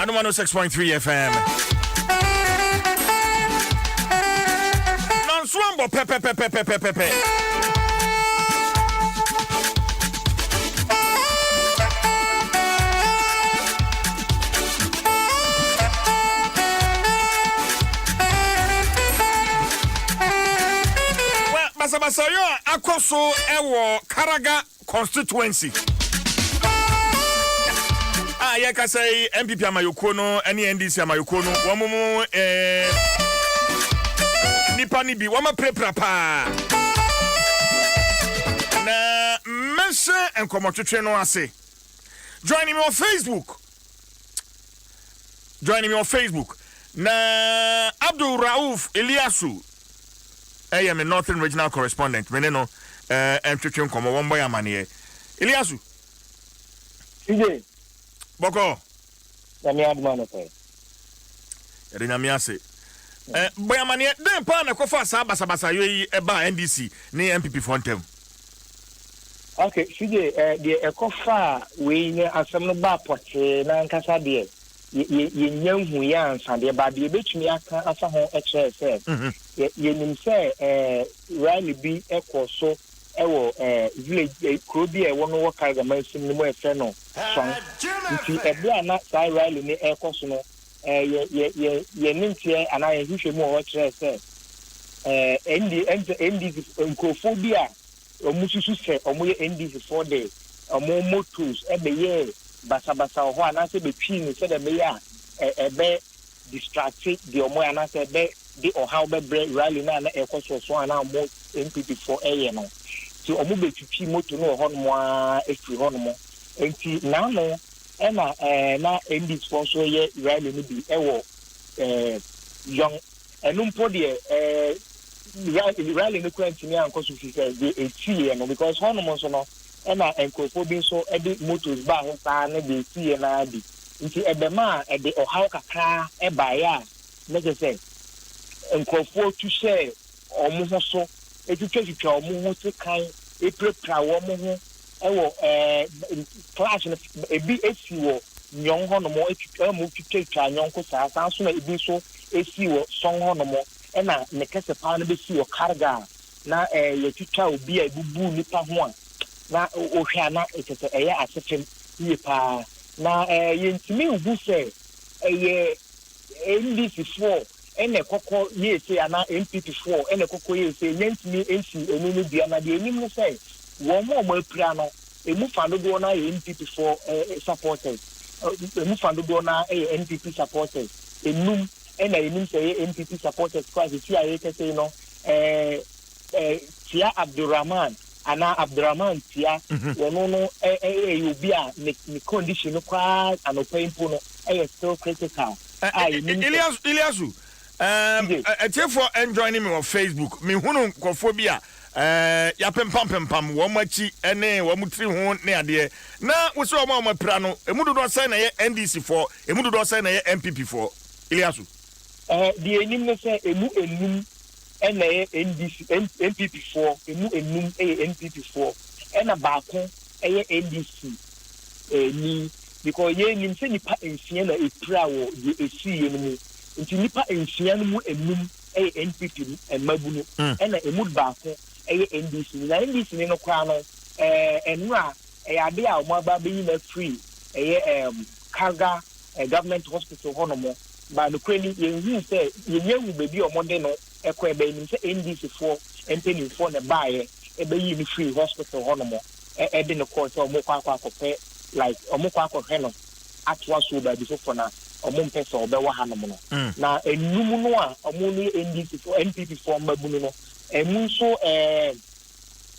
Adam 106.3 FM. Nansuambo pɛpɛpɛpɛpɛpɛpɛ. Basabasa yo akɔ so ɛwɔ Karaga constituency. A yɛkasa yi NPP amayɔkuo no ne NDC amayɔkuo no wɔn mu eh, nipa no bi wɔn apirapira paa na mmɛhyɛ nkɔmɔtwetwe no ase join me on Facebook. join me on facebook na abdul rauf eliasu ɛyɛ me northern regional correspondent me ne no ɛntwetwe nkɔmmɔ wɔn bɔ yɛ amaneɛ eliasu sije bɔkɔ nyame adoma no pɛ yɛde nyame ase bɔ yɛ amaneɛ dɛn paa na ɛkɔfa saa basabasayɔ yi ɛbaa ndc ne npp fɔ ntɛm Ok, CJ, eh, deɛ ɛkɔ faa wei ne asɛm no baa pɔtee no ankasa deɛ, yɛ, yɛ, yɛnnya nhuiɛ ansa deɛ, but deɛ yɛbɛtumi aka afa ho kyerɛɛ sɛ, yɛ, yɛnim sɛ, eh, rally bi kɔɔ so wɔ, eh, village, eh, kuro bi a ɛwɔ no wɔ Karga mansin no mu a yɛfrɛ no Song. Nti ɛberɛ a na saa rally no rekɔ so no, Ɛɛ, yɛ, yɛ, yɛ, yɛn nimteɛ anaa yɛn nhwehwɛmu wɔ hɔ kyerɛ sɛ, ɛɛ, ND, ND, NDCfoɔ, nkurɔfoɔ bi a wɔsusu sɛ wɔyɛ NDCfoɔ de wɔn mottos bɛyɛɛ basabasa wɔ hɔ anaasɛ bɛtwii no sɛdeɛ ɛbɛyɛ a ɛ, ɛbɛ distracte deɛ wɔyɛ anaasɛ ɛbɛ de ɔhaw bɛbrɛ rally no a na ɛrekɔ soɔ soɔ a na wɔn NPPfoɔ reyɛ no. Nti wɔbɛtwitwi motto no wɔ hɔnom ara afiri hɔnom. Nti, naano. Ɛna na Indies foɔ nso yɛ rally no bi wɔ Young. Ɛno mpo deɛ rally no kura ntumi ankɔ so fi sɛ deɛ ɛsiiɛ no because hɔ nom nso no ɛna nkurɔfoɔ bi nso de motos baa hɔ saa ne deɛ ɛsiiɛ no ara bi nti ɛbɛma a ɛde ɔhaw kakra baeɛ a na kyɛ sɛ nkurɔfoɔ tu hyɛɛ wɔn ho so twitwatwitwa wɔn ho sekan pirapira wɔn ho wɔ class no ebi si wɔ nyɔn hɔnom ɛtwitwa wɔn twitwatwitwa nyɔnko saa saa nso na ebi nso si wɔ sɔn hɔnom ɛna ne kɛse paa no bɛsi wɔ karga na yɛtwitwa obi a ebubu nipa ho a na ohwɛ a na ɛkyɛ sɛ ɛyɛ ase fam yie paa na yɛntumi nhu sɛ ɛyɛ ndc foɔ Ɛna ɛkɔkɔ yie sei anaa NPP foɔ ɛna ɛkɔkɔ yie sei yɛntumi nsi ɔno no dua na deɛ ɛnim no sɛ wɔn a wɔn apira no ɛmu fa dodoɔ no ara yɛ NPP foɔ supporters ɛmu fa dodoɔ no ara yɛ NPP supporters ɛnum ɛna ɛnim sɛ ɛyɛ NPP supporters koraa sisi a yɛkɛsɛ yi no ɛɛ. eh, tia Abdulrahman anaa Abdulrahman tia mhm. wɔn no eh, eh, eh, ɛyɛ obi a ne ne condition no koraa anɔpa yi mpo no ɛyɛ eh, still critical. Eh, a yɛnim sɛ Iliasu Iliasu ɛtiefoɔ eh, enjoy ne mi wɔ Facebook mi hunu nkɔfoɔ bi a ɛɛ yapempam wɔn akyi ne wɔn tiri ho ne adeɛ na wosɛ wɔn a wɔn apira no emu dodoɔ sɛn na ɛyɛ NDC foɔ emu dodoɔ sɛn na ɛyɛ NPP foɔ Iliasu. ɛɛ deɛ enim no sɛ emu enum. na ɛyɛ NDC, NPP foɔ, ɛmu nnum yɛ NPP foɔ ɛna baako yɛ NDC ni because yɛn nim sɛ nipa nsia na ɛpira wɔ deɛ ɛsiiɛ no mu nti nipa nsia no mu nnum yɛ NPP mmabunu hmm. ɛna ɛmu baako yɛ NDC ni na NDC ni no koraa no ɛnora ɛyɛ adeɛ a wɔn aba bɛyi na firi ɛyɛ Karga Government Hospital hɔnom ba. Nokorɛ ni, yɛnhuu sɛ yɛnya wu baabi a wɔde no kɔɛ, but yɛnim sɛ NDCfoɔ mpaninfoɔ na ɛbaeɛ bɛyii no firii hospital hɔnom de no kɔɔ sɛ wɔkɔ akɔ akɔpɛ like wɔkɔ akɔhwɛ no atoa soɔ baabi foforɔ na wɔmpɛ sɛ ɔbɛwɔ hanom no. Na nnum no a wɔn no yɛ NDCfoɔ, NPPfoɔ mmabunu no, ɛmu nso ɛɛ,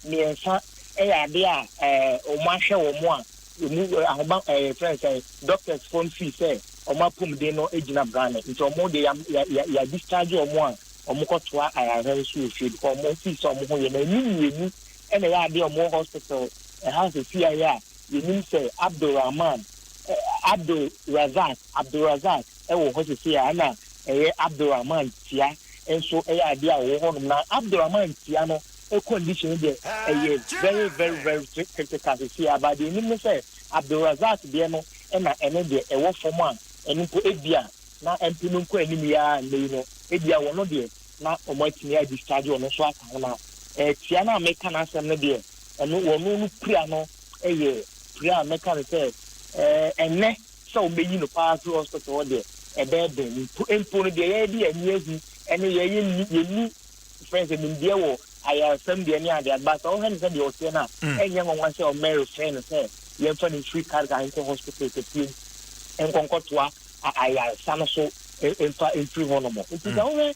mmiɛnsa yɛ adeɛ a wɔahwɛ wɔn a ɛmu ahoba yɛfrɛ no sɛn doctors foɔ no fii sɛ wɔn apɔmuden no gyina brane nti wɔn deɛ ya ya ya discharge wɔn a wɔn kɔtoa ayarehwɛ nso wɔ fie because wɔn fii sɛ wɔn ho yɛ na ɛmu mmienu ɛna ɛyɛ adeɛ wɔn wɔ hospital ɛha sɛ si ayɛ a yɛnim sɛ Abdul Rahman Abdul Razak Abdul Razak wɔ hɔ sesei a ɛna ɛyɛ Abdulrahman tia nso yɛ adeɛ a ɔwɔ hɔnom na Abdulrahman tia no condition no deɛ ɛyɛ very very very critical sesei a but deɛ ɛnim ne sɛ Abdulrazak deɛ no ɛna ɛno deɛ ɛwɔ fam a ɛno mpo ebia na mpe no nkɔ anim yi ara nnɛ yi no ebia wɔno deɛ na wɔn atumi a discharge ɔno nso aka ho na tia no a meka n'asɛm no deɛ ɛno wɔno no pira no ɛyɛ pira a mɛka no sɛ ɛɛ ɛnɛ. sɛ wɔbɛyi no paa afiri hospital hɔ deɛ, ɛbɛyɛ den. Mpo, mpo no, deɛ yɛyɛ de yɛn ani ahu ne yɛ, yɛnni, yɛnni, frɛ no sɛ, nimdeɛ wɔ ayaresɛm deɛ ne adeade. But sɛ wohwɛ no sɛdeɛ ɔteɛ no a, ɛnyɛ nwanwa sɛ Mary frɛɛ no sɛ yɛmfa no mfiri Karka nkɔ hospital kɛseɛ mu nkɔ nkɔtoa a, ayaresa no so mfa mfiri hɔnom. Nti sɛ wohwɛ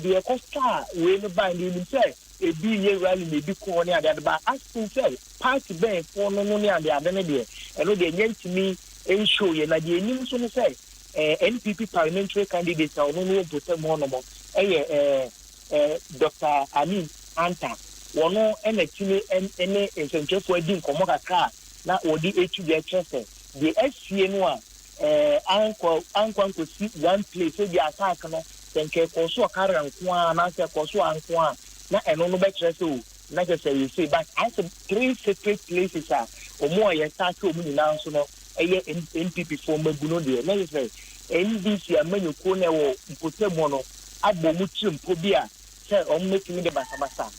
deɛ ɛkɔfaa wei no bae no, wonim sɛ ebi yɛ rally na ebi kɔ hɔ ne adeade but asking sɛ party bɛn foɔ no no ne adeade no deɛ ɛno deɛ nyɛ ntumi nhyɛw yɛ na deɛ enim nso no sɛ ɛɛ npp parliamentary candidate a ɔno no wɔ mpɔtam hɔ nom ɛyɛ ɛɛ ɛɛ dr amin anta wɔn ɛna tumi ɛne nsɛntwerɛfoɔ adi nkɔmɔ kakra a na wɔde etu deɛ kyerɛ sɛ deɛ asie no a eh, ankɔ ankɔ ankosi one place ebi attack no sɛ nka ɛkɔɔ so ɔkara nko a anaasɛ ɛkɔɔ so anko a na ɛno no bɛkyerɛ sɛ o na kyerɛ sɛ ɛyɛ sei but asɛ three separate places a wɔn a yɛtaake wɔn nyinaa nso no ɛyɛ npp foɔ mmabu no deɛ na kyerɛ sɛ ndc amanyɔkuo na ɛwɔ mpɔtamu no abɔ wɔn tirimpo bi a sɛ wɔn mɛtumi de basabasa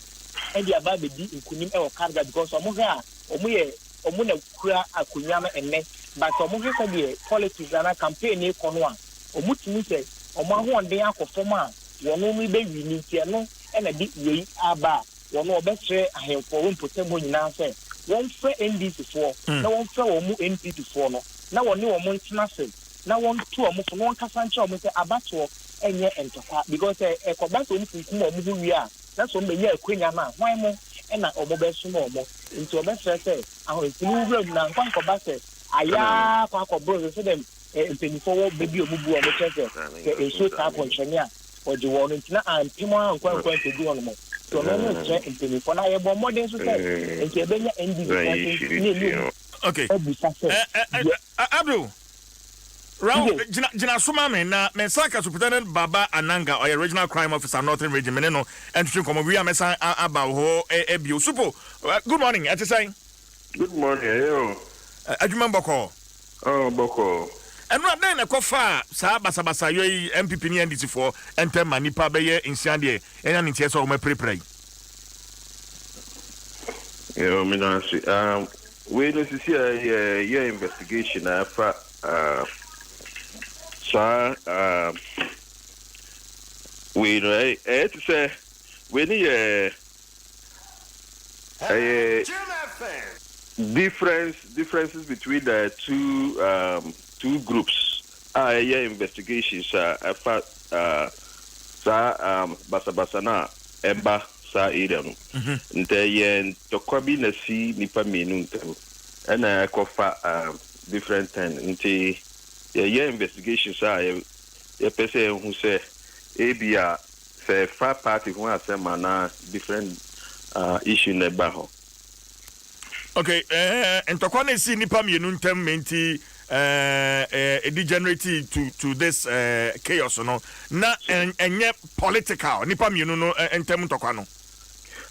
ɛde aba abɛdi nkunim ɛwɔ karga because wɔn hwɛ a wɔn yɛ Wɔn na kura akonya no nnɛ but wɔn hwɛ sɛdeɛ politics anaa campaign no rekɔ no a wɔn tumi sɛ wɔn ahoɔden akɔ fam a wɔn no bɛ wini nti ɛno na ɛde wei aba a wɔn no wɔbɛ srɛ ahenfoɔ wɔ mpotam hɔ nyinaa sɛ wɔn mfrɛ NDC foɔ na wɔn mfrɛ wɔn mu NPP foɔ no na wɔne wɔn ntena ase na wɔn to wɔn fo na wɔn kasa nkyerɛ wɔn sɛ abatoɔ ɛnyɛ ntɔkwa because sɛ ɛkɔba sɛ wɔn kunkum wɔn ho wie a na sɛ wɔbɛnya akwanya no a, hwan mu na wɔbɛsom wɔn? Enti wɔbɛsrɛ sɛ, Aho, fi wo wuram na nkɔ ankɔba sɛ ayɛ ara kɔ akɔboro nso. Sɛdeɛ mpanyimfoɔ wɔ bɛ bi a wɔbu wɔn kyɛ sɛ, sɛ nsuo taa akɔnkyɛne a, wɔgye wɔn no nti, na ampem wɔn ankɔ ankɔ ankɔdi wɔn mu. Nti ɔno no rekyerɛ mpanyimfoɔ, na yɛbɔ mmɔden nso sɛ nka yɛbɛnya NDB content ne ɛmu. Okay, ɛ ɛ ɛ A Abdul, Rauf, Yes. gyina gyina so ma me na me nsa aka Superintendent Baba Ananga, ɔyɛ Regional Crime Officer, Northern Region, me ne no ntwetwe nkɔmmɔ, mewie a mɛsan a- aba wo hɔ ɛ- ɛ bio. Supo, eh, good morning, ɛte sɛn? Good morning, ɛyɛ o. Ɛ- Adwumam bɔkɔɔ. Oh, bɔkɔɔ. Ɛnora, dɛn na ɛkɔfaa saa basabasayɔ yi NPP ne NDC foɔ ntɛm ma nnipa bɛyɛ nsia deɛ yɛanya ne nteɛ sɛ wɔapirapira yi? Yo, meda ase. Um, Wei no sisi a yɛ yɛ investigation a ɛfa saa wei no ɛyɛ te sɛ wei no yɛ ɛyɛ difference differences between the two um, two groups. a ɛyɛ investigations a ɛfa saa basabasa no a ɛba saa area no ntɛ yɛ ntɔkwa bi na si nipa mmienu ntɛm ɛna ɛkɔfa different ten nti yɛyɛ investigations a yɛpɛ sɛ yɛhu sɛ ebi a sɛ ɛfa party ho asɛm anaa different issue na ɛba hɔ. Okay, eh, ntɔkwa na esi nipa mmienu ntam ma nti eh, eh, degenerative to to this eh, chaos no na ɛnyɛ political nipa mmienu no eh, ntam ntɔkwa no.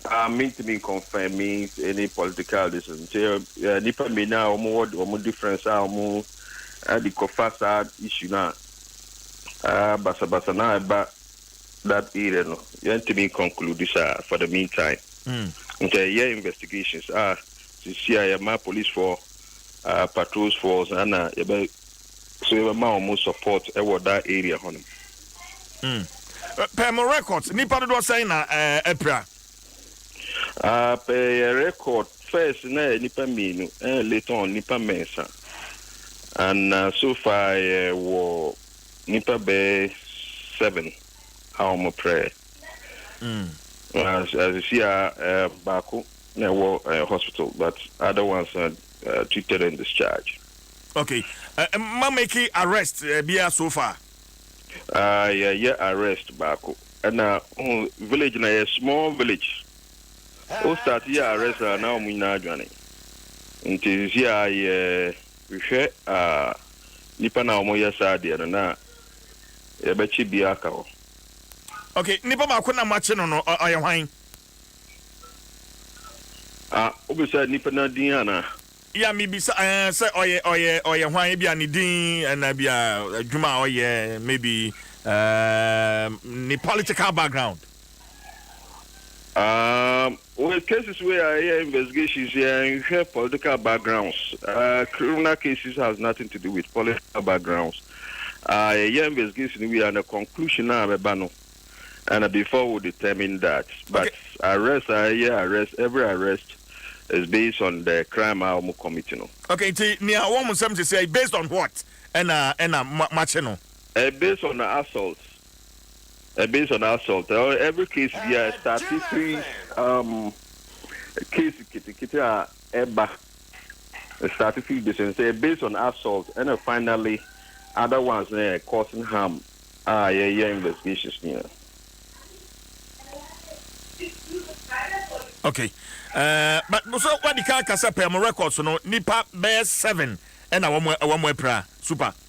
Ah, mintumi confirm me any political this is nti eh, nipa mmienu a wɔn wɔ wɔn difference a wɔn eh, de kɔfa saa issue na ah, basabasa na ɛba that area no yɛntumi conclude saa for the mean time mm. nka yɛyɛ investigations a sisi a yɛma police for uh, patrols force ana yɛbɛ so yɛbɛma wɔn support ɛwɔ that area hɔ nom mm. eh, pɛ mo records nipa dodoɔ sɛn na eh, apira uh, pɛ yɛ record first na yɛ nipa mmienu ɛna eh, later on nipa mmiɛnsa and uh, so far yɛwɔ nnipa bɛyɛ seven a wɔn prayer. Na as as you see a eh, baako na ɛwɔ eh, hospital but other ones na eh, treated and discharged. okay ɛ ɛ ma make arrest ɛ biara so far. Ah, yɛyɛ arrest baako ɛna ho village na yɛ small village. O start yɛ arrest a na wɔn nyinaa adwane nti sisi a yɛ. Hwɛ a, nnipa na wɔyɛ saa adeɛ no na yɛbɛkye biaa aka hɔ. Ok, nnipa baako na moakye no no, ɔ, ɔyɛ hwan? Ah, wobisa nnipa no din anaa? Ya, mebisa, eh, sɛ ɔyɛ, ɔyɛ, ɔyɛ hwan, ebia ne din, ɛna ebia adwuma a ɔyɛ, maybe, eh, ne political background. Um, wei cases wei a ɛyɛ investigations yɛ nhwɛ political backgrounds. Uh, criminal cases has nothing to do with political backgrounds. Uh, ɛyɛ investigation wei a na conclusion a bɛba no. And before we determine that, but okay. arrest, uh, yeah, arrest, every arrest is based on the crime a wɔn committee no. Okay, nti nea wɔn nsɛm te sɛ based on what? Ɛna ɛna makye no. Uh, based on the assault. a based on assault uh, every case bi a starting free um case kitikiti a ɛba starting free this and say based on assault and then finally other ones uh, causing harm ah yeah yeah investigations yeah. okay uh, but so what the car kasa pɛ mo records no nipa bɛyɛ seven ɛna wɔn wɔn apira super.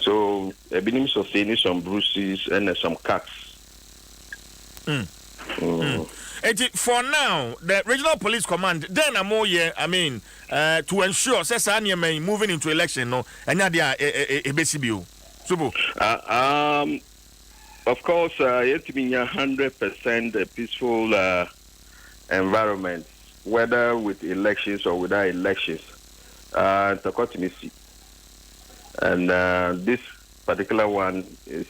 So ebinom sɔ fee ne some bruises ɛna some cuts. Mm. Mm. Eti for now the regional police command dɛn na mo yɛ I mean uh, to ensure sɛ saa nneɛma yi moving into election no ɛnya de a ebesi bi o. Subo. Uh, um, of course uh, yɛntumi nya 100% peaceful uh, environment whether with elections or without elections uh, ntakɔtumi si and this particular one is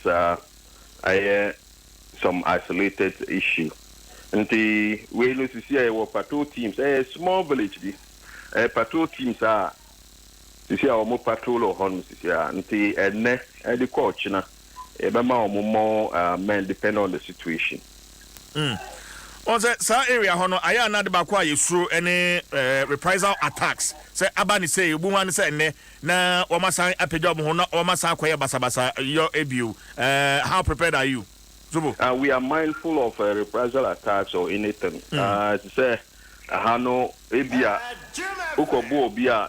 ayɛ some isolated issue nti wei no sisi a yɛwɔ patrol teams ɛyɛ small village bi ɛyɛ patrol teams a sisi a wɔn patrol wɔ hɔ nom sisi a nti ɛnɛ ɛde kɔ ɔkyena. yɛbɛma wɔn mmɔ amen depending on the situation. Mm. Wɔn sɛ saa area hɔ no ayɛ anade baako a yɛsuro ne eh, reprisal attacks sɛ aba ne sɛ ebu ho ano sɛ nnɛ na wɔn asan apagya wɔn ho na wɔn asan akɔyɛ basabasa yɔ ebio. Eh, how prepared are you, Zobo? Uh, we are mindful of uh, reprisal attacks or anything. Mm. Uh, te sɛ ɛha no ebi a wokɔbo obi a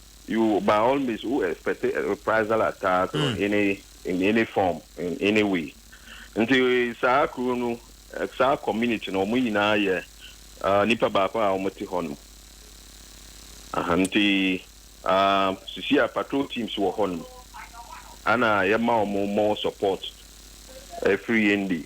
You by all means wo expect reprisal attack no mm. any in any form in any way. Nti saa kuro no saa community no wɔn nyinaa yɛ uh, nipa baako a wɔn te hɔ no. Nti uh, sisi a patrol teams wɔ hɔ no ana yɛma wɔn more support ɛfiri yɛn di.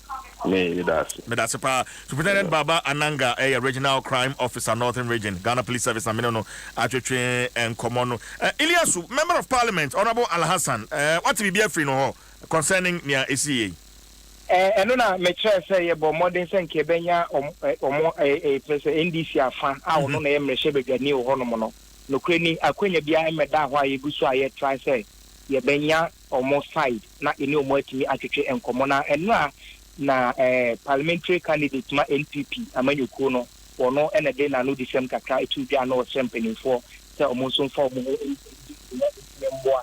Me yedase. Medase paa. Superintendent Baba Ananga yɛ Regional Crime Officer Northern Region, Ghana Police Service na me ne no atwetwe nkɔmmɔ no. Eh, Iliasu, Member of Parliament, Honourable Alhassan, eh, woate biribi afiri no hɔ concerning nea ɛsiiɛ yi? Eh, ɛno na mekyerɛɛ sɛ yɛbɔɔ mmɔden sɛ nka yɛbɛnya wɔn, wɔn, eh, eh, kyerɛ sɛ NDC afa a ɔno na ɛyɛ mmarahyɛbadwani wɔ hɔnom no. Nokorɛ ni, akwanya biara mmɛdaa hɔ a yɛgu so a yɛtrae sɛ yɛbɛnya. wɔn side na yɛne wɔn atumi atwetwe nkɔmmɔ na ɛno a na eh, parliamentary candidate ma NPP amanyɔkuo no, ɔno na ɛde n'anodisɛm kakra too dwa na ɔsrɛ mpanimfoɔ sɛ wɔn nso mfa wɔn ho ndi dwuma ntini mmoa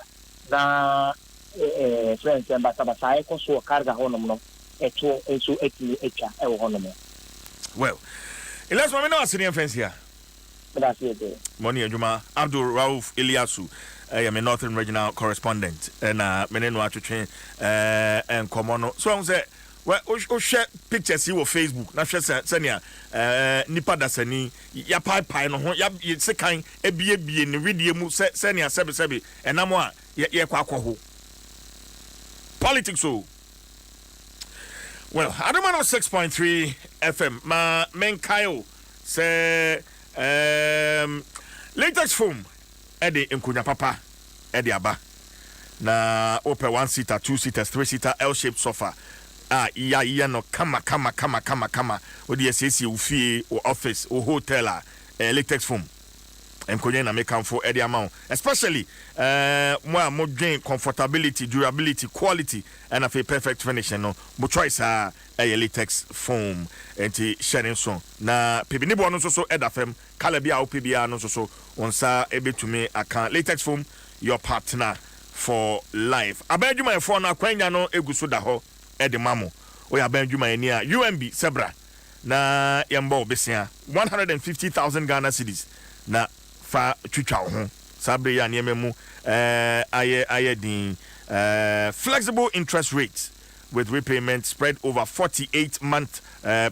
na eh, yɛfrɛ no sɛn, basabasa a ɛrekɔ so wɔ Karga hɔnom no ɛtoɔ nso atumi atwa wɔ hɔnom. Well, Elias Mame na wase ne yɛmfa nsi ha. Meda ase yɛkyɛ. Mo ne adwuma. Abdul Rauf Iliasu yɛ me Northern Regional Correspondent na me ne no atwetwe nkɔmmɔ no. So ahu sɛ wɛ wohwɛ pictures yi wɔ Facebook na hwɛ sɛ sɛnea nipa dasani yapaepae no ho ya sekan ebiebie ne wedeɛ mu sɛ sɛnea sɛbesɛbe ɛnam a yɛkɔ akɔho politics o. well adoma no six point three fm ma menkae o sɛ um, latex foam ɛde nkonnwa papa ɛde aba na wopɛ one seater two seaters three seater l shaped sofa a yɛayɛ no kama kama kama kama kama wode asiesie wo fie wo office wo hotel a ɛyɛ latex foam Nkonwa yi na me kamfo de ama wo especially eh mo a mo dwen comfortability, durability, quality ɛna afei perfect finishing no mo choice aa ɛyɛ latex foam nti hyɛ ne nso na pɛ bi ne boɔ no nso so ɛda fam colour biaa wo pɛ biaa no nso so wo nsa ɛbɛtumi aka latex foam your partner for life aban adwumayɛfoɔ no akwannya no ɛgu so da hɔ ɛde ma mo wo yɛ aban adwumayɛni a UMB sɛ bra. na yɛmbɔ wo besea one hundred and fifty thousand Ghana cedis na fa twitwa wo ho saa bere yi a nneɛma mu ayɛ ayɛ den yi. Flexible interest rate with repayment spread over forty eight month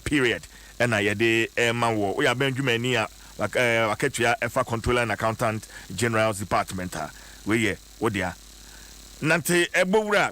period na yɛde rema wo. Woyɛ aban dwumani a w'akatua ɛfa Controller and Accountant General's Department a, wei yɛ wo dea. Nante bɔ wura.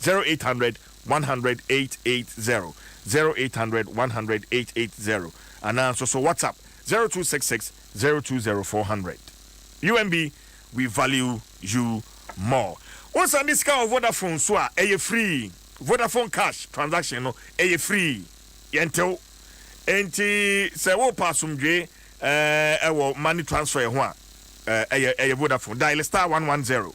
Zero eight hundred one hundred eight eight zero zero eight hundred one hundred eight eight zero anaa nso so WhatsApp zero two six six zero two zero four hundred. UMB we value you more. Wo nsa de sika wɔ Vodafone so a ɛyɛ free. Vodafone cash transaction no ɛyɛ free. Yɛntew. Enti sɛ wopɛ asomdwee ɛɛ ɛwɔ money transfer ho a ɛɛ ɛyɛ ɛyɛ Vodafone. Dial star one one zero.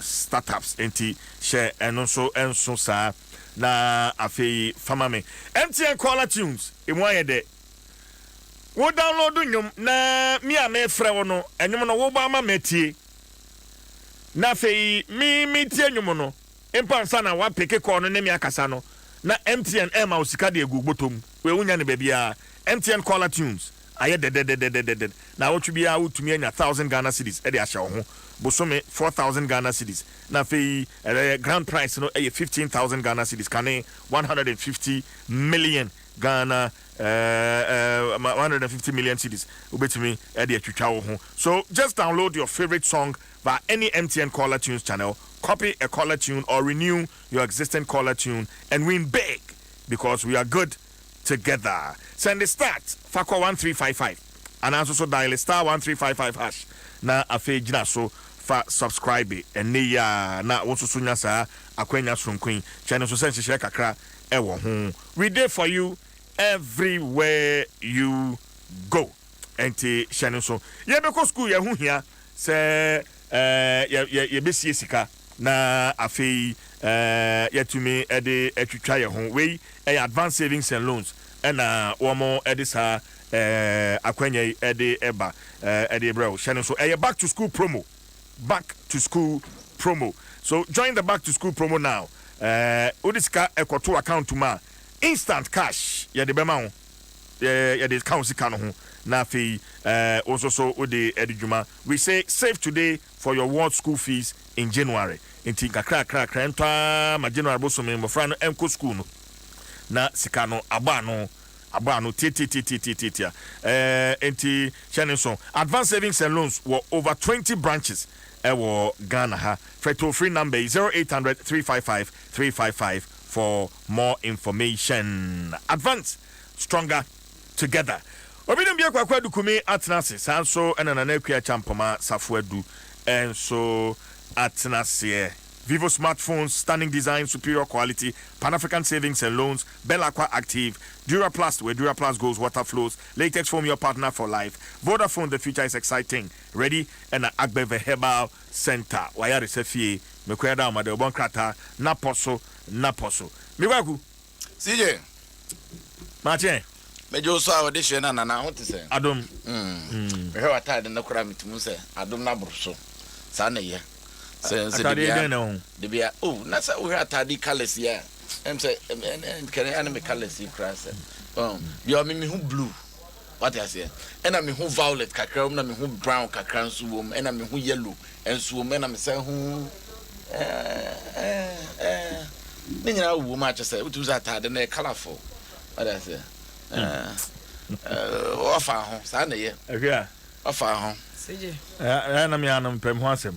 startups nti hyɛ ɛno nso nso saa na afei fa ma me MTN caller tunes emu ayɛ dɛ wo download nnwom na me a mefrɛ wo no nnwom no wobɔ ama matie na afei me metie nnwom no mpo ansa na woapeke call no ne me akasa no na MTN ɛma wo sika de agu bɔtɔ mu wei wonya ne baabiara MTN caller tunes Ayɛ dɛdɛdɛdɛdɛdɛdɛ. Naawɔtwe biara wotumi anya thousand Ghana cedis de ahyɛ wo ho. Bosome, four thousand Ghana cedis. Na afei ɛɛ grand price no yɛ fifteen thousand Ghana cedis, kane one hundred and fifty million Ghana ɛɛ ɛɛ one hundred and fifty million cedis wobɛtumi de atwitwa wo ho. So just download your favourite song via any MTN caller tunes channel, copy a caller tune or renew your existing caller tune and win big because we are good. together sɛnde start fa kɔ one three five five anaa nso so diale star one three five five hash na afei gyina so fa subscribe ɛnnɛ yi ara na wo nso so nya saa akwanya soronko yi kyɛ no nso sɛ nhyehyɛɛ kakra ɛwɔ ho we dey for you everywhere you go ɛnti hyɛ no nso yɛbɛkɔ school yɛho hia sɛ ɛɛ yɛ yɛ yɛbɛsie sika. na afei yɛatumi de atwitwa yɛn ho. Wei yɛ Advanced Savings and Loans na wɔde saa akwanya yi de ba de brɛ wo. Hyɛ no nso, ɛyɛ Back to School Promo, Back to School Promo. So join the Back to School Promo now. Wode sika kɔto account mu a, instant cash yɛde bɛma wo, yɛde ka wo sika no ho, na afei wo nso so wode adi dwuma. We say save today, for your ward school fees in January nti nkakrakra kra ɛntɔ ara ma January bosome mmɔfra no ɛnkɔ sukuu no na sika no abɔ ano abɔ ano tiatiatiatiatiatia ɛɛ nti hyɛ ne nso advance savings and loans wɔ over twenty branches ɛwɔ Ghana ha frɛ toll free number yi zero eight hundred three five five three five five for more information advance stronger. together Obinom bia Kwaku Adu Kumi atena ase saa nso na Nana Akua Akyampomah Safo Adu nso atena aseɛ Vivo smart phones stunning design superior quality Pan African savings and loans Bella Kwa Active Duraplast where Duraplast goes water flows Latex foam your partner for life Vodafone the future is exciting ready ɛna Agbeve herbal centre w'ayaresa fie Mekua Adaoma de ɔbɔ nkrataa na pɔ so na pɔ so Me Kwaku. CJ. Makye. Megye wo so a wɔde hyɛ na nana ho te sɛ. Adom. Mehwɛ w'ataade no koraa metumi sɛ adom no aboro so saa na ɛyɛ. Sɛ sɛ Ataade debia dɛn na ho? debia oh na sɛ wohwɛ ataade yi colours yi a ɛm sɛ ɛm ɛn ɛn kɛne ɛne me colours yi koraa sɛ um, deɛ ɔme mehu blue Wate aseɛ? Ɛna mehu violet kakra wom, na mehu brown kakra nso wom, ɛna mehu yellow nso wom, ɛna mesan hu eh, eh, eh. Ne nyinaa wɔ wom a kyɛ sɛ wotumi sɛ ataade no yɛ colourful. Wate aseɛ? Hmm. Eh, eh, wafa ho, saa na ɛyɛ. Ɛhwɛ a. Wafa ho. Sigye. Ɛyɛ na meanom pɛ me ho asɛm.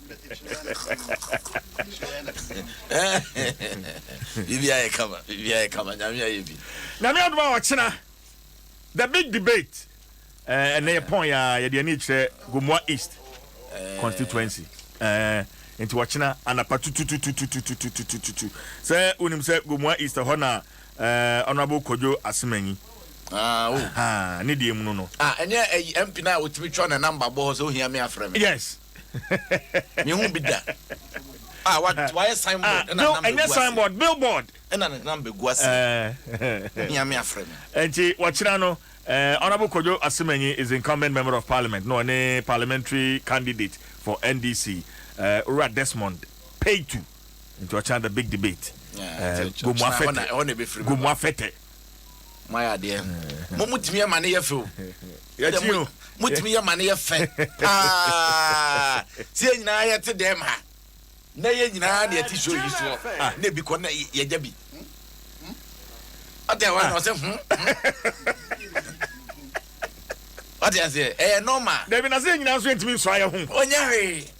biribi ayɛ kama biribi ayɛ kama nyame ayɛ bi nyame adom a ɔkyena the big debate eh, ɛnɛ yɛpɔn yɛ a yɛde ani kyerɛ gomoa east eh. constituency eh, nti wɔkyena anapa tutututututututututu sɛ wonim sɛ gomoa east hɔ na honorable kodwo asemanyi Ah, oh. ne deɛ mu no no ah, ɛnyɛ eh, mp no a wɔtumi twerɛ ne namba bɔ hɔ sɛ wohia me afrɛ me yes Menhu bi da. Ah, wa, wayɛ signboard ɛna nam bɛ gu ase. Ɛnyɛ signboard, billboard. Ɛna ne nam bɛ gu ase. Ɛɛ. Nyame afrɛ me. Ɛnti wɔkyena no, ɛɛ Honourable Kojo Asemanyi is the incumbent member of parliament na ɔne parliamentary candidate for NDC ɛɛ Owura Desmond Paytu nti ɔkyena the big debate ɛɛ Gomuafɛtɛ, Gomuafɛtɛ. mo ayɛ adeɛ mo mo tumi yɛ ma ne yɛ fɛ o yɛkyi mo mo tumi yɛ ma ne yɛ fɛ paa sɛ yɛ nyinaa yɛ te dɛm ha na yɛ nyinaa na yɛte show yi soɔ ah. na ebi kɔ na yɛgya bi ɔtɛ wɔn na ɔsɛ ho ɔtɛ aseɛ ɛyɛ nɔɔma. dɛbi na se yɛ nyinaa nso yɛ ntumi nsɔ ayɛ ho. ɔnyɛ hwee.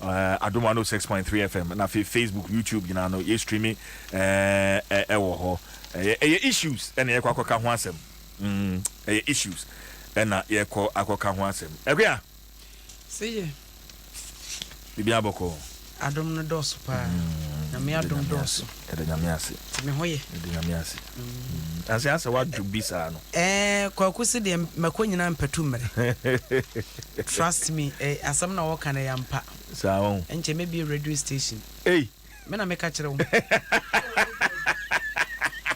Adom one oh six point three FM na afei Facebook YouTube nyinaa no yɛ streami ɛwɔ hɔ ɛyɛ issues ɛna yɛkɔ akɔka ho asɛm mm ɛyɛ issues ɛna yɛkɔ akɔka ho asɛm ɛkɔya sɛ yɛ bibi abɔkɔ adom no dɔɔso paa mm, na me adom dɔɔso. Yɛda Nyame ase. Nti me ho ye. Yɛda Nyame ase. Nanse asɛ wadwo bi saa no. Ɛɛ Kwaku se deɛ mɛkɔ nyinaa mpatu mmere. Trust me ɛ asɛm na wɔka no ɛyɛ ampa. Saa wahu. Ɛnkyɛ mɛbie radio station. Ei. Me na meka kyerɛ wo.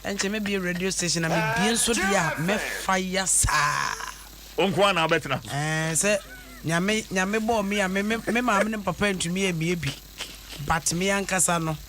Ɛnkyɛ mɛbie radio station na mebie nso deɛ a mɛfa ya saa. Wo nko ara na wobɛtena so. Ɛɛ sɛ Nyame Nyame bɔɔ me a me me maame ne papa ntumi ɛmie bi but me ankasa no.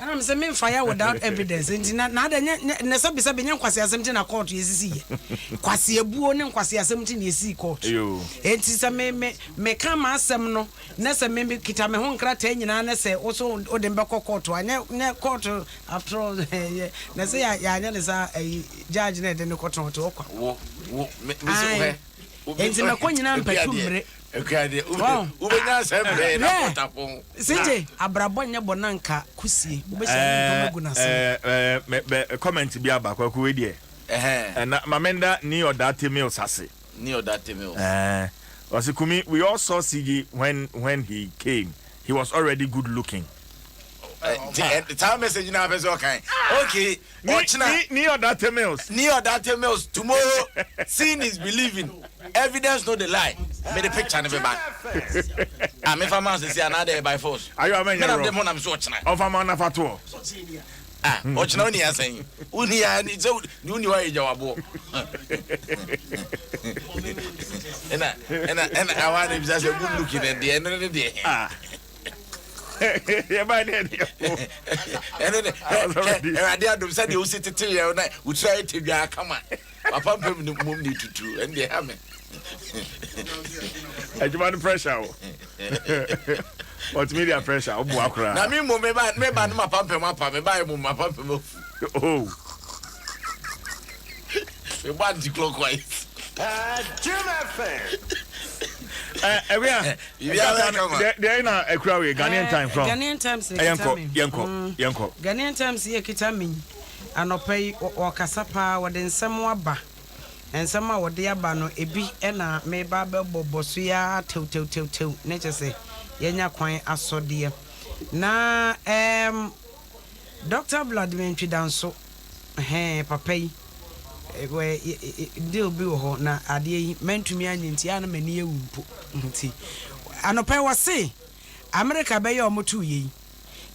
Ɛna me se me nfa yɛ without evidence nti na na adɛ nyɛ nyɛ nɛ sɛbi sɛbi nyɛ nkwasea asɛm ti na court yɛ sisi yɛ kwasea buo ne nkwasea asɛm ti na yɛ sii court nti sɛ me me me ka ma asɛm no nɛ sɛ me me kita me ho nkrataa nyinaa nɛ sɛ wo so wo de mbɛ kɔ court a nyɛ nyɛ court after all yɛ nɛ sɛ yɛ yɛ anyɛ ne saa ɛyi judge nɛ de ne kɔ tena ɔte ɔkwa wo wo me me se wo hɛ nti mɛ kɔ nyinaa mpɛ tu mmire. Akua deɛ wobɛnya asɛm pɛɛ na pɔtapɔn. Sɛgye abrabɔ nyɛ bɔ na nka kusie wobɛhyɛ ne ntɔm agu n'ase. Comment bi aba kwaku wei deɛ. Ɛna ma menda ni ɔdate mills ase. Ni ɔdate mills. Ɔsi kumi we all saw sigi when when he came he was already good looking. Nti saa message na apɛ sɛ ɔkan. Okay Ni, Ɔkyena. ni, ni ɔdate mills. Ni ɔdate mills tomorrow seeing is believing evidence no de lie mede picture no beba a mefa ma sisi anaadɛ by force Ayo ama nyɛ menam de wrong. ho nam so ɔkyena Ɔfa ma na fa to hɔ. ah ɔkyena woni asɛn woni a ne sɛ ne woni hɔ a yɛgya waboɔ ɛna ɛna ɛna awa ne bisa sɛ good looking ne deɛ ɛno ne deɛ Ah. yɛba ne ɛne yɛpo ɛno ne awurade adom sɛdeɛ wosi tete yɛ na wokyira yɛ tadwaa kama papa mpam ne mmom ne tutu ɛne deɛ ha me adwuma no pressure wo multimedia pressure woboa koraa na me mmom meba no mapa mpam apa mebaɛ mu mapa mpam afu oh. meba anti clockwise Jim FM. Ɛwia. Biribiara yɛ kama. Deɛ na ɛkura wei Ghanaian Times no. Ghanaian Times na ɛkita me. Yɛnkɔ yɛnkɔ. Ghanaian Times yɛ kita me yi. Anɔpa yi wɔkasa paa wɔde nsɛm aba. Nsɛm a wɔde aba no ebi na meba bɛbɔ bɔ so yi ara tɛwtɛwtɛw ne kyɛ sɛ yɛanya kwan asɔ deɛ. Na ɛɛm. Doctor Vladimir Ntwidanso, Hɛn papa yi, wɔ yɛ deal bi wɔ hɔ na adeɛ yi mantumi anyɛ nti a na m'ani awu mpo nti anɔpa yi wɔse Amerika bɛyɛ wɔn too yei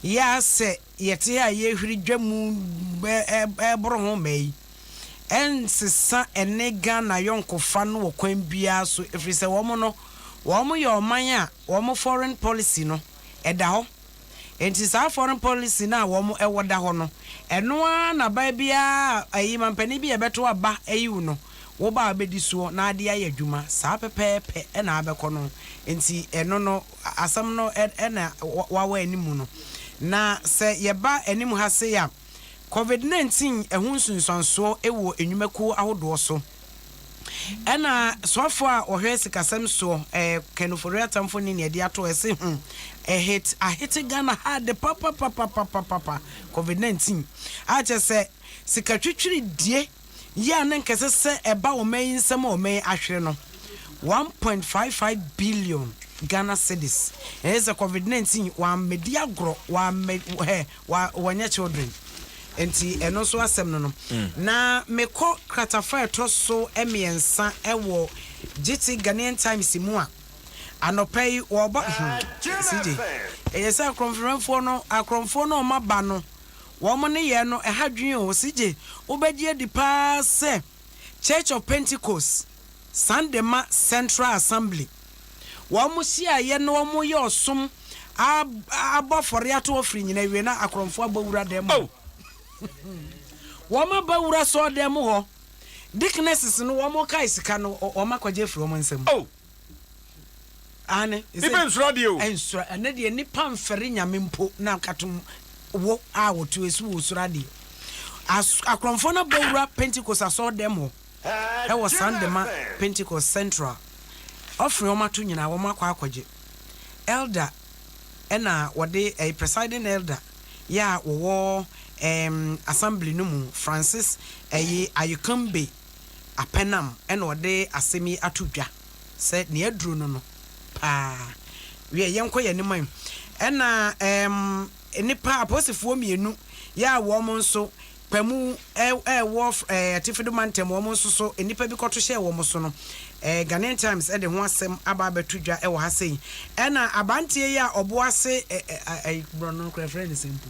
yɛ a sɛ yɛte ha a yɛhwiri dwa mu ɛboro ho mmaa yi ɛnsesa ɛne Ghana yɔnkofa no wɔ kwan biara so ɛfiri sɛ wɔn no wɔn yɛ ɔman a wɔn foreign policy no ɛda hɔ Enti saa foreign policy no a wɔn wɔ da hɔ no, ɛno ara na baa biara a ayi mampanin bi a ɛbɛto aba ayiw no, wo ba a bɛdi soɔ na ade ayɛ adwuma, saa pɛpɛɛpɛ na abɛkɔ no. Enti ɛno no, asɛm no na wawa anim no. Na sɛ yɛba anim ha sei a, Covid 19 ho nsunsuansoɔ wɔ nnwumakuo ahodoɔ so. Ɛnna soafoɔ a ɔhwɛ sikasɛm soɔ, eh, Kɛnofori Atamfo ne nea ɛde ato hɔ, se ho, eh, hit, ahete Ghana hard papapapapapapa, Covid 19, a kyerɛ sɛ sika twitwiridie yi a na nka ɛsɛ sɛ ɛba ɔman yi nsam a ɔman yi ahwere no, one point five five billion Ghana cedis, ɛyɛ sɛ Covid 19 wammɛdi agorɔ, wammɛ, eh, Wa wɔnyɛ children nti ɛno nso asɛm no no na mekɔ kratafa ɛtɔ so mmiɛnsa ɛwɔ gyiti Ghanaian Times mu a anɔpa yi wɔɔbɔ CJ ɛyɛ sɛ akorɔmfrɛmfoɔ no akorɔmfoɔ no wɔn aba no wɔn ne yɛɛ no ɛha dwen o CJ wobɛgye adi paa sɛ Church of Pentecost, Sandema Central Assembly. Wɔn hyiaeɛ no wɔn yɛ ɔsom a abɔ afɔre ato ɔfiri nyina awie na akorɔmfoɔ abawura dan mu wɔn abawura sɔɔ dan mu hɔ deaconesses no wɔn kae sika no wɔn akɔgye afiri wɔn nsam. Aane, ne bɛ nsuro adeɛ o. Ɛnsuro, ɛnɛ deɛ nnipa mfɛre Nyame mpo na katom wo a wɔto asu wɔ suro adeɛ. As, akorɔmfoɔ no abɛwura Pentecost asɔɔdɛm hɔ ɛwɔ Sandema Pentecost Central, ɔfre wɔn ato nyinaa wɔn akɔ akɔgye. Elder ɛna wɔde, ɛɛ presiding elder yɛ a wɔwɔ ɛɛm assembly no mu Francis ɛyi Ayokambe. Apɛnam na ɔde asɛm yi ato dwa sɛ nea aduro no no paa. Wiɛ, yɛnkɔ yɛn anim ɛ. Ɛna ɛɛm nnipa apolisifoɔ mmienu yɛ a wɔn nso kpamu ɛwɔ ɛɛ Atifi do mantam wɔn nso so nnipa bi kɔto hyɛɛ wɔn so no. Ɛɛ Ghanaian Times ɛde ho asɛm aba abɛto dwa ɛwɔ ha sɛyi. Ɛna abanteɛ yi a ɔbo ase ɛ ɛ ɛ borɔno no koraa yɛfrɛ no sɛn mpo?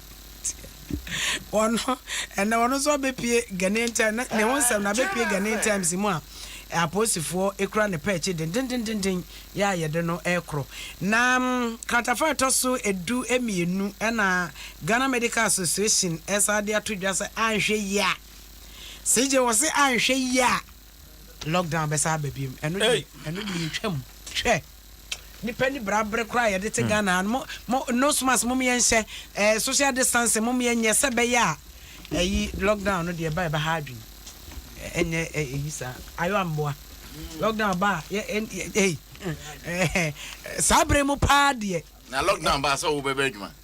Ɔno, ɛnnɛ ɔno nso abɛpue Ghanaian Times, na ne ho nsɛm no abɛpue Ghanaian Times mu a apolisifoɔ kura ne pɛɛkye dendendenden yɛ a yɛde no rekoro. Na kratafa a ɛtɔ so edu mmienu na Ghana Medical Association san de ato dwa sɛ anhwɛ yie a, CJ wɔ se anhwɛ yie a, Lockdown bɛsan aba biom. Ɛno deɛ, ɛno deɛ yɛtwa mu. Hwɛ! Nipa ni bra bere koraa a yɛde te hmm. Ghana ha mo mo nose mask mo yɛ nhyɛ eh, social distancing mo yɛ nyɛ sɛ bɛyɛ a ɛyi eh, lockdown no deɛ ba ɛbɛ ha adwene ɛnyɛ eh, ɛyi saa ayɔ amboa lockdown ba yɛ ɛyi eh, saa bere mu paa deɛ. na lockdown ba sɛ wo bɛbɛ adwuma.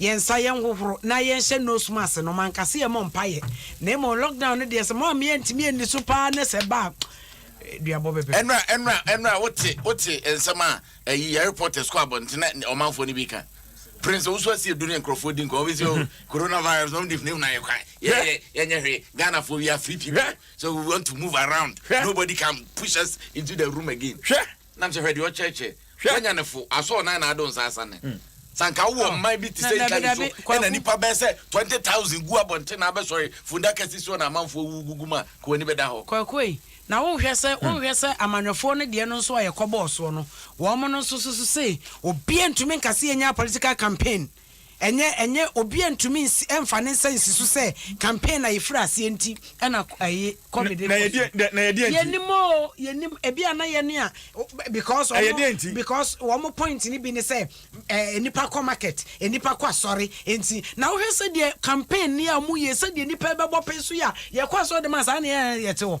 yɛn nsa yɛn hohoro na yɛn hyɛ nose mask no man kase yɛ mɔ mpa yɛ na emo lockdown no deɛ sɛ mo ameyɛ ntumi ani so paa ne sɛ ba eh, duabɔ bɛbɛ. Ɛnura ɛnura ɛnura wote wote nsɛm a ɛyi yɛ reporters kɔ abɔntene ne ɔmanfoɔ no bi ka prince owusu asi edu ne nkurɔfoɔ di nkɔmɔ oh, bi sɛ oh, coronavirus na wɔn de funu na yɛ kwan yɛ yɛ yɛ nyɛ hwee ghana for we are free people so we want to move around nobody can push us into the room again. Nam sɛ hwɛ deɛ ɔkyerɛkyerɛ. Hwɛ. Wanya ne fo, asɔɔ nan na ado nsa asane. Sɛ anka wowɔ Oh, mman bi te na sɛ dabi, Italy so dabi, Kwaku. na nnipa bɛyɛ sɛ 20,000 gu abɔnten na abɛsɔre fundakɛse soɔ na amanfoɔ awuwu gugu mu a, ka w'ani bɛda hɔ? Kwaku ei, na wonhwɛ sɛ wonhwɛ sɛ amanyɔfoɔ no deɛ no nso a yɛkɔbɔɔ soɔ no, wɔn no nso so so sei, obiara ntumi nka sɛ yɛnyaa political campaign. Ɛnyɛ, ɛnyɛ, obiara ntumi nsi, ɛmfa ne nsa nsi so sɛ campaign a yɛfiri aseɛ nti ɛna ɛyi covid rekɔ so. Na ɛyɛ deɛ nti? Yɛnim o, yɛnim, ebi a na yɛne a, because wɔn. Ɛyɛ deɛ nti? Because wɔn point no bi ne sɛ, ɛɛ, nnipa kɔ market, nnipa kɔ asɔre, nti, na wohwɛ sɛdeɛ campaign ni a wɔyɛ, sɛdeɛ nnipa bɛbɔ pee so yɛ a, yɛkɔ asɔre dɛm a, saa na yɛn ara yɛte hɔ.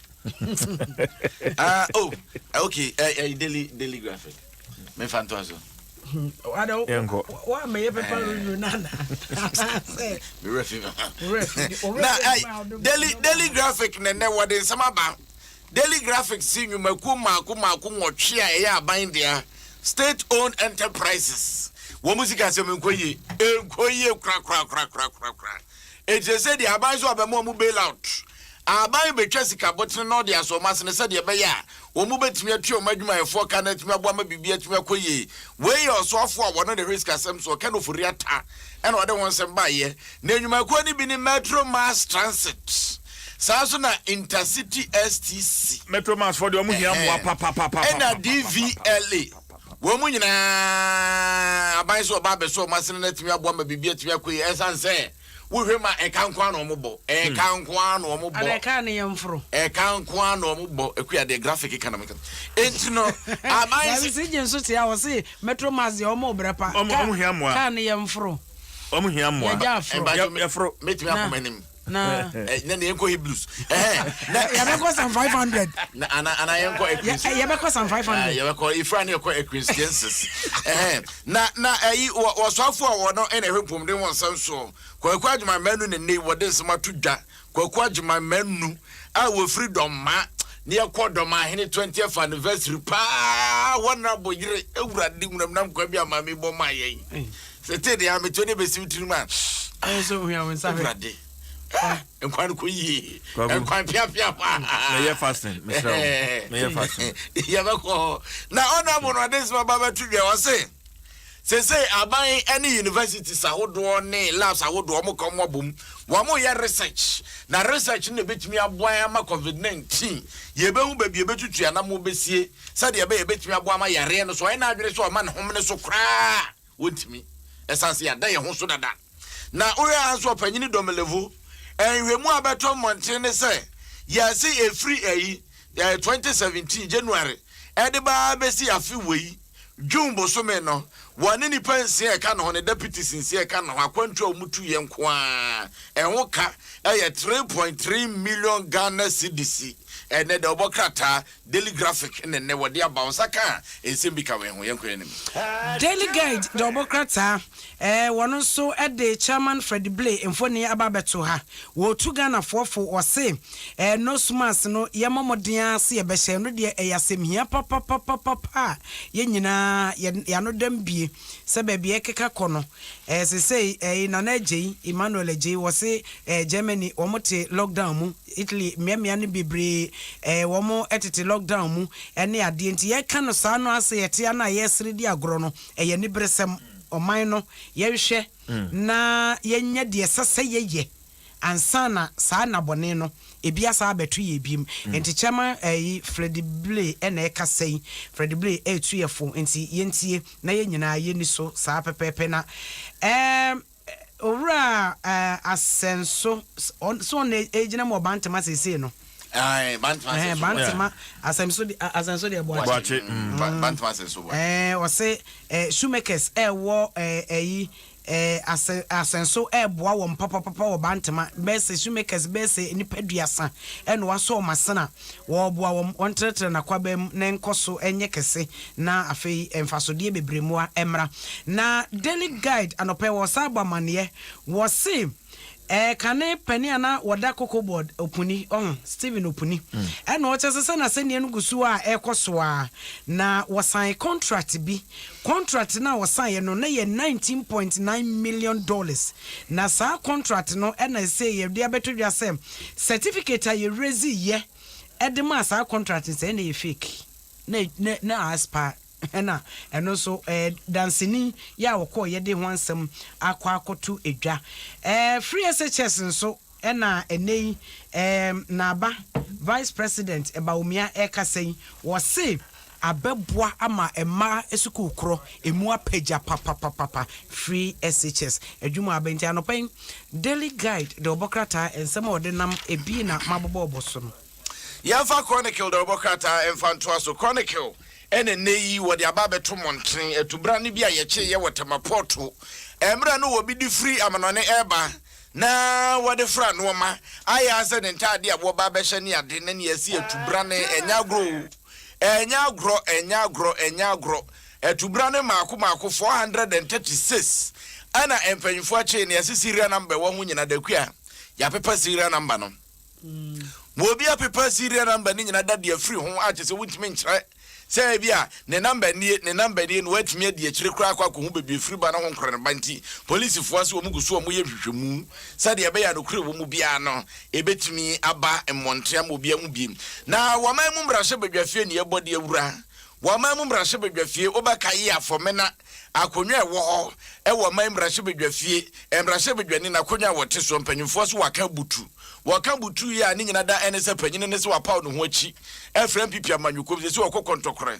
ah oh okay eh, eh, daily daily graphic me fa ntoa so ada wa me ye pepa review na na say me review na ai daily daily graphic ne ne wode nsɛm aba daily graphic si nnwumakuo mmaako mmaako nwɔtwe a ɛyɛ aban dea state owned enterprises wɔn mu sika asɛm nkɔ yie nkɔ yie korakorakorakorakorakora Ɛkyerɛ sɛ deɛ aban so abɛma wɔn bail out. Aban bɛtwa sika botene na ɔde asɔ wɔn asene sɛdeɛ ɛbɛyɛ a wɔbɛtumi atua wɔn adwumayɛfoɔ ka na atumi aboa ma biribi atumi akɔ yie. Wei yɛ ɔsoafoɔ a wɔne no hwɛ sikasɛm soɔ, Ken Ofori-Atta, na ɔde ho nsɛm baeɛ. Na nnwumakuo no bi ne Metro Mass Transit, saa nso na Intercity STC. Metro Mass foɔ deɛ wɔhia mmoa papapapapapapapa. Ɛna DVLA. Wɔn mu nyinaa, aban nso a ɔba abɛsɔ wɔn asene no atumi aboa ma biribi atumi akɔ yie. Ɛsiane sɛ wohwɛ mu a, ɛka nko ara na wɔbɔ. Ɛka hmm. nko ara na wɔbɔ. Ana ɛka ne yɛn foro. Ɛka nko ara na wɔbɔ. Ɛkua deɛ graphic ka na meka. Enti no, aban. Dabi si gye nso tia wɔ se metro mas deɛ wɔn brɛ pa. Wɔn hia mmoa. Ka ne yɛn foro. Wɔn hia mmoa. Yɛgya aforo. Yɛforo. Mɛtumi akoma anim. na eh, na yɛn kɔ hebrews ɛhɛ eh, na yɛbɛkɔ san five hundred na ana ana yɛn kɔ ekins eh, yɛbɛkɔ san five hundred yɛbɛkɔ ifra ne yɛkɔ ekins kensis ɛhɛ na na ɛyi wɔ wɔsɔfo a wɔn ɛna ɛhwɛ pɔmuden wɔn nsa nsoɔ kɔkɔ adwuma mɛnu ne ne wɔde nsɛm ato dwa kɔkɔ adwuma mɛnu a wɔfiri dɔmma ne yɛkɔ dɔmma ahene twentieth anniversary paa wɔn na bɔ yere ewurade nwuramnam kwa bi a maame bɔ maa yɛn. Tete deɛ ameto ne bɛsi wo tirim a ayɛ sɛ ohia wo nsa hwɛ. Awurade. Ah, nkwa no kɔ yie. Kwaku. Nkwa piapia paa. Mɛyɛ fasting, mesrɛ wo. Mɛyɛ fasting. Yɛbɛkɔ hɔ. Na Honourable no ɔde nsɛm aba bɛto dwa ɔse sesei aban ne universities ahodoɔ ne labs ahodoɔ wɔn kɔ mmɔ bom wɔn yɛ research na research no na ebetumi aboa ama covid 19 yɛbɛhu baabi ebetutu anam wɔbɛsie sɛdeɛ ɛbɛyɛ ebetumi aboa ama yareɛ no so ɔyɛ n'adwene sɛ ɔma ne homene so koraa. Wontumi. Ɛsan sɛ yɛada yɛn ho so dada. Na wohwɛ ara nso Ɔpanyin Domelevo, nhwehwɛmu a abɛto mmɔnten ne sɛ, yɛse ɛfiri ayi, 2017 January de ba ara bɛsi afe wei June bosome no, wɔne nnipa nsia a ɛka ne ho no, deputies nsia a ɛka ne ho, akwantuo a wɔtuiɛ nko ara, ɛho ka yɛ three point three million Ghana cedis. Ɛnnɛ, deɛ wɔbɔ krataa Daily Graphic na nnɛ wɔde aba wo nsa ka a, nsɛm bi ka wei ho. Yɛnkɔ yɛn anim. Daily Guide de wɔn krataa eh, wɔn nso de Chairman Freddie Blay mfoni aba abɛto ha. Wɔretu Ghanafoɔ fo, wɔse eh, nose mask no yɛmmɔ mmɔden ara sɛ yɛbɛhyɛ, ɛno deɛ ɛyɛ asɛmhia papapapapa a yɛn nyinaa yɛn yɛn ano da mu bie sɛ baabi a ɛkeka kɔ no eh, seesei eh, Nana Agyei, Emmanuel Agyei, wɔse Eh, Germany wɔn te lockdown mu, Italy mmeammea no bebree eh, wɔn tete lockdown mu ne adeɛ nti yɛka no saa no ase yɛte ano a yɛresere di agorɔ no ɛyɛ aniberesɛm ɔman no yɛnhwɛ na yɛnyɛ deɛ ɛsɛ sɛ yɛyɛ ansa na saa nnabɔne no ebi asa abɛto yɛ ebiem nti kyɛma ɛyi eh, Fredibile ɛna ɛka sɛn Fredibile ɛretu yɛ fo nti yɛntie na yɛn nyinaa yɛni so saa pɛpɛɛpɛ na ɛɛ. Eh, Owura Asɛnso, sɛ ɔno na ɛgyina mu wɔ Bantama seesei no? Aye, Bantama Asɛnso Boakye. Bantama Asɛnso deɛ, Asɛnso deɛ Boakye. Boakye, mm, Bantama Asɛnso Boakye. Ɔse Shoemakers ɛwɔ ɛyi Asɛnso ɛboa wɔn papapapa wɔ Bantama. Bɛsɛ Shoemakers bɛsɛ nnipa aduasa ɛna wɔasɔ wɔn asena Wɔboa wɔn, wɔntrɛtrɛ n'akwaban mu na ɛnkɔ so nyɛ kɛse, na afei mfasodeɛ bebree mmoa mmra. Na Daily Guide anɔpa yi wɔsan abɔ amanneɛ, wɔse ɛɛ kane panin a na wɔda koko board Opuni, ɔho, Stephen Opuni, ɛna ɔkyɛ sɛ sɛ n'asɛnniɛ no gu so a ɛrekɔ so ara, na wɔsan contract bi, contract no a wɔsaneɛ no na ɛyɛ nineteen point nine million dollars, na saa contract no ɛna ɛsɛ yɛde abɛto dwa sɛ, Certificate a yɛrezi yɛ de maa saa contract no sɛ na ɛyɛ fake na na na aspa ɛna ɛno nso ɛɛ danseni yɛ a ɔkɔɔ yɛde ho ansɛm akɔ akɔto edwa ɛɛ free SHS nso ɛna ɛnɛ yi ɛɛ n'aba vice president ɛbawomia ɛkasa yi wɔse abɛboa ama mmaa sukuu korɔ ɛmu apagya papapapapa firi SHS adwuma aba nti anɔpa yi Daily Guide dɔrɔbɔ krataa nsɛm a ɔde nam ɛbi na mabobɔɔbɔ so no. Yɛmfa Chronicle dɔrɔbɔ krataa mfa ntoa so. Chronicle ɛna ɛnnɛ yi wɔde aba abɛto mmɔntene atubrane bi a yɛkyeeɛ wɔ Tema Pɔɔto mmerɛ no wɔbi de firi amanɔne ɛreba na wɔde fra nnoɔma ayɛ ara sɛ ne ntaadeɛ a wɔba abɛhyɛ ne ade na nea ɛsi atubrane ɛnyɛ agorɔ o. Ɛnyɛ agorɔ, ɛnyɛ agorɔ, ɛnyɛ agorɔ. Atubra no mmaako mmaako, four hundred and thirty six, ɛna mpanyinfoɔ akyee nea ɛse serial number wɔ ho nyina da kua. Yɛapepa serial number no. Ma obi apepa serial number no nyina da de afiri ho a kyerɛ sɛ wontumi nkyerɛ sɛ ebi a ne number nie, ne number nie, na watumi adi akyire koraa akɔ akɔhu baabi efiri ba ne ho nkorɛ no ba nti, polisifoɔ se wɔn gu so a wɔyɛ nhwehwɛmu sɛdeɛ ɛbɛyɛ a nokorɛ wɔ mu biara no Ebetumi aba mmɔnten ama obi ahu bi. Na wɔaman mu mmarahyɛbadwafie ne yɛbɔ de awura. Wɔaman mu mmarahyɛbadwafie, wobɛkae a Fɔmena akonnwa a ɛwɔ hɔ wɔ ɔman mmarahyɛbadwafie, mmarahyɛbadwani no akonnwa a wɔte soɔ, mpanimfoɔ so wɔaka abutu. Wɔka butu yi a ne nyina da ne sɛ panyini no sɛ wapaw ne ho akyi afira mpipi amanyɔkuo mu, sɛ sɛ wɔkɔ kɔntɔkorɛ.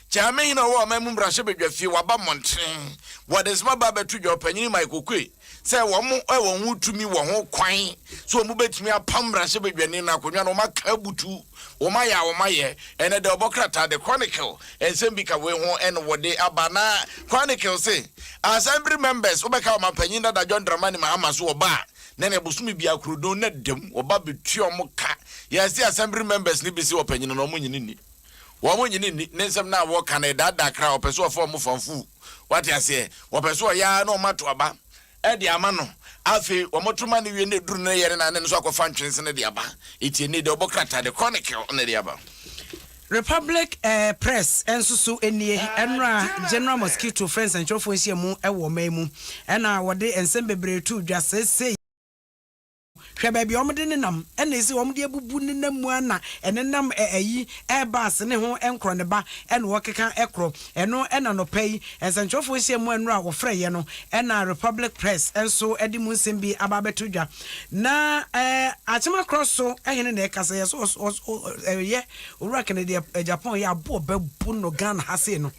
Kyame hene a ɔwɔ ɔman mu mmarahyɛ badwa fie waba mmɔntene wɔ ade nsɛm aba abɛto dwa ɔpanyin Mike Oquaye sɛ wɔn a wɔn wɔ tumi wɔ ho kwan sɛ wɔn bɛtumi apam mmarahyɛ badwani no akonnwa no wɔn aka abutu wɔn ayɛ a wɔn ayɛ ɛnɛ dɛ ɔbɔ krataa The Chronicle nsɛm bi ka wei ho ɛna wɔde aba na Chronicle se Assembly members wobɛka ɔman panyin dada John Dramani Mahama so ɔba a na ne bosome bi akorodon na dam ɔba bɛtua wɔn ka yɛasi Assembly members no bi se ɔpanyin no wɔn nyini ni. Wɔn nnye no nni. Ne nsɛm no a wɔka no, ɛdaadaa kra. Wɔpɛ sɛ wɔfa wɔn fa mfuw. Woate aseɛ? Wɔpɛ sɛ wɔyɛ ara na wɔato aba de ama no. Afei wɔto ma no wie na ɛduru no na yɛne no ane no nso akɔfa ntwense no de aba. Enti ɛnnɛ yi deɛ, wɔbɔ krataa, The Chronicle, na ɛde aba. Republic Press nso so nie. Ɛnnora, General Mosquito frɛɛ nsɛnkyerɛwfoɔ nhyiamu wɔ ɔman mu, ɛnna wɔde nsɛm bebree too dwa. Seesei. Hwɛ baabi a wɔde nenam na ese wɔde abubu nenam mu ara na ɛnenam ɛ ayi ɛreba asene ho nkorɔ ne ba na wɔkeka ɛkorɔ. Ɛno na anɔpa yi nsɛnkyerɛwfoɔ nhyiamu a nnora wɔfrɛeɛ no na Republic Press nso de mu nsɛm bi aba abɛto dwa. Na ɛ Akyema Krɔ so hene na ɛkasa yɛ so ɔs ɔs ɔs ɛ yɛ Owura Kennedy ɛ Agyapong yɛ a bo ɔbɛbu no Ghana ha sei no.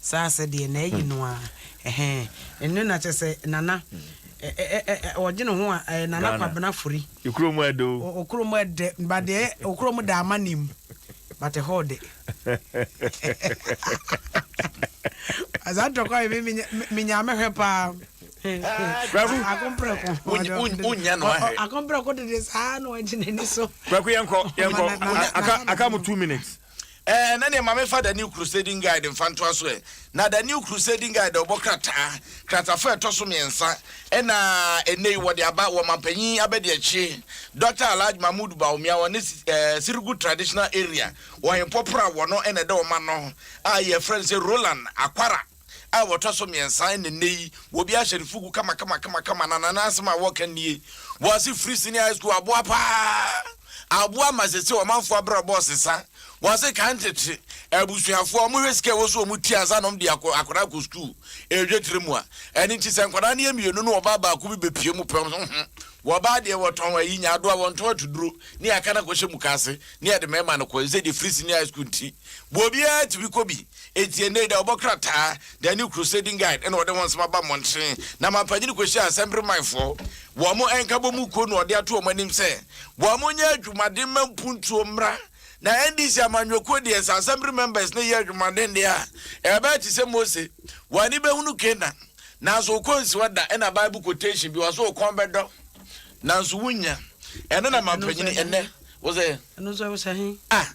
Saa asɛ deɛ na ayi no aa ɛhɛɛ ɛno na kyerɛ sɛ nana ɛɛɛɛ ɔgye ne ho a ɛɛ nana kwabena fori. Okurom ɛdɛ o. Okurom ɛdɛ but deɛ okurom da ama nim but ɛhɔ ɔdɛ hahahaha saa ntɔkwa yi me me nyaa me hwɛ paa kwaku akomprɛko wonya no ahɛ akomprɛko dede saa na ɔgye n'ani so kwaku yɛnkɔ yɛnkɔ aka aka mo two minutes. Eh, ɛnɛdeɛ ma me fa The New Crusading Guide mfa ntoa so ɛ. Na The New Crusading Guide ɔbɔ krataa, kratafo a ɛtɔ so mmiɛnsa, ɛna ɛnɛ yi wɔde aba wɔ Ɔmanpanyin Abadiakyire Dɔkta Alhaji Mahmood Bawumia wɔ ne eh, Sirgu Traditional Area wɔ Hempɔ Pora wɔ no ɛna ɛda wɔn ano a yɛfrɛ no sɛ Roland Akwara. a wɔtɔ so mmiɛnsa ɛna nnɛ yi wɔ obi ahyɛde fugu kamakamakama na nana asɛm a wɔka nie wɔ ase firi senior high school aboa paa aboa ma sese ɔmanfoɔ abrabɔ sesa wɔ ase ka ntete abusuafoɔ wɔn hwɛ sika ɛwɔ so wɔn ti ansa na wɔn de akɔ akwadaa akɔ sukuu ɛhwɛ tiri mu a ɛne nti sɛ nkwadaa no yɛ mmienu no ɔbaa baako bi bɛpie mu pɛm ho ho wɔbaa deɛ wɔtɔn ayi nyaado a wɔntɔn atuduro ne aka no akɔhyɛ muka ase ne ɛde mɛma no kɔ ɛsɛ deɛ firi senior high school nti wɔbiara tumi kɔ bi Enti ɛnnɛ yi da wɔbɔ krataa de a new crusading guide na wɔde ho nsɛm aba mmɔnten na amanpanyin kɔhyia asɛmperemanfoɔ wɔ wɔn ɛnkabɔ mu kuo na wɔde ato wɔn anim sɛ wɔn nyɛ adwumaden mma mpuntuo mmra na NDC amanyɔkuo deɛ sɛ asɛmpere members no yɛ adwumaden deɛ a ɛbɛyɛ te sɛ Mose w'ani bɛhunu Canaan nanso wokɔ nsiwa da ɛna bible quotation bi wɔ so wokɔn bɛdɔ nanso wonya ɛno na amanpanyin ɛnnɛ wɔ sɛ ah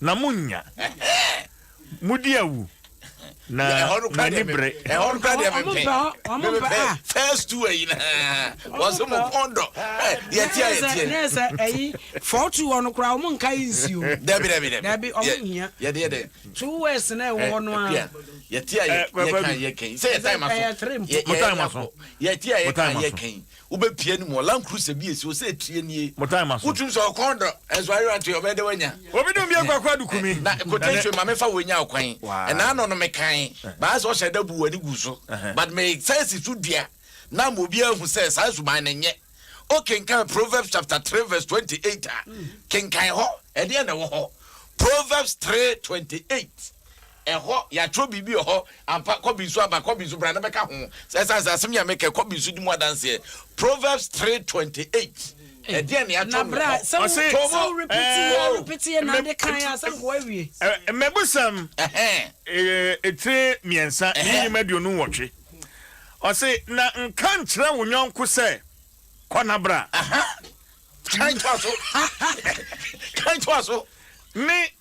Na monnya. Modi awu, na moani bere. Wo bɛ pia ni mu ɔ Land cruiser bi esi hɔ sɛ etire nie. Mo time ma so. Wo tum sɛ ɔ kɔn dɔ ɛnso ayerɛ ato yɛ ɔ bɛ dɛ wa nya. Obi dum bi egu akwa du kumi. Na kote nso ma me fa wo nya ɔkwan. Ɛna ano no me kan baa sɛ ɔhyɛ da bu wɔ ani gu so but me san si so dua na ama obi ahu sɛ saa suban no nyɛ. O kenkan Proverbs chapter three verse twenty eight a kenkan hɔ ɛdeɛn na ɛwɔ hɔ Proverbs three twenty eight. Ɛhɔ, yɛatwerɛ biribi wɔ hɔ ampa, kɔ bi nso aba, kɔ bi nso bra na bɛka ho. Sɛ ɛsiane sɛ asɛm yi a meka yi, kɔ bi nso di mu adanseɛ. Proverbs three twenty eight, ɛdeɛn na yɛatwerɛ wɔ hɔ? Ɔse, To mu, ɛɛ, mmɛbusɛm etire mmiɛnsa ne nnyim aduonu nwɔtwe. Ɔse, Na nka nkyerɛ wo yɔnko sɛ, Kɔ na bra. Kan toa so. Kan toa so. Ne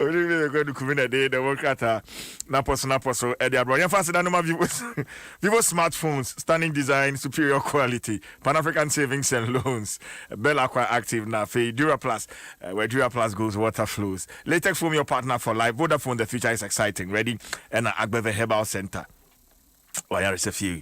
Ɔde bi rekɔ dukumi na ɛde dɛm nkrataa napɔ so napɔ so ɛde abrɔ. Yɛn fa aseda no ma Vivo Vivo smartphones, stunning design, superior quality, Pan African savings and loans, Bell Aqua Active na afei Dura Plus, eh, where Dura Plus goes water flows. Latex foam your partner for life. Vodafone the future is exciting. Ready? Ɛna Agbeve Herbal Center. Wayaresɛ fie